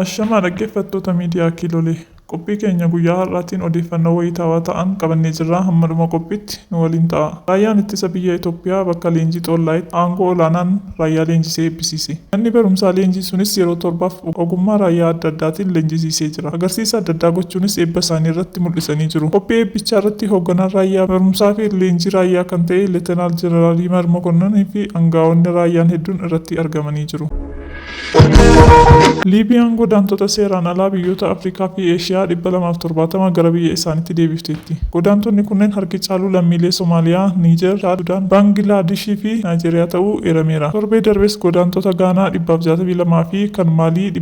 Ashamaa dhaggeeffattoota miidiyaa Kiilolee. Qophii keenya guyyaa har'aatiin odeeffannoo wayitaawaa ta'an qabannee jirra hamma dhuma qophiitti nu waliin ta'a. Raayyaan Ittisa Biyya Itoophiyaa bakka leenjii Xoollaayitti aangoo olaanaan raayyaa leenjisee eebbisiise. Manni barumsaa leenjii sunis yeroo torbaaf ogummaa raayyaa adda addaatiin leenjisiisee jira. agarsiisa adda addaa gochuunis eebba isaanii irratti mul'isanii jiru. Qophii eebbichaa irratti Hoogganaan Raayyaa Barumsaa fi Leenjii Raayyaa kan ta'e Letenaal Jeneraal Yimar Mokonnon fi angaa'onni raayyaan hedduun irratti argamanii jiru. Liibiyaan godaantota seeraan alaa biyyoota Afrikaa fi Eeshiyaa dhibba lamaa fi torbaatama gara biyya isaaniitti deebifteetti. Godaantonni kunneen harki caalu lammiilee Somaaliyaa, Niijer, Chaad, Sudaan, Baangilaadishii fi Naayijeeriyaa ta'uu eerameera. Torbee darbes godaantota Gaanaa dhibba fi jaatamii lama fi kan Maalii dhibba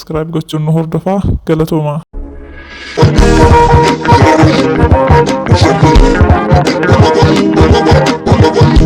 Subscribe gochuun nu hordofaa galatoomaa.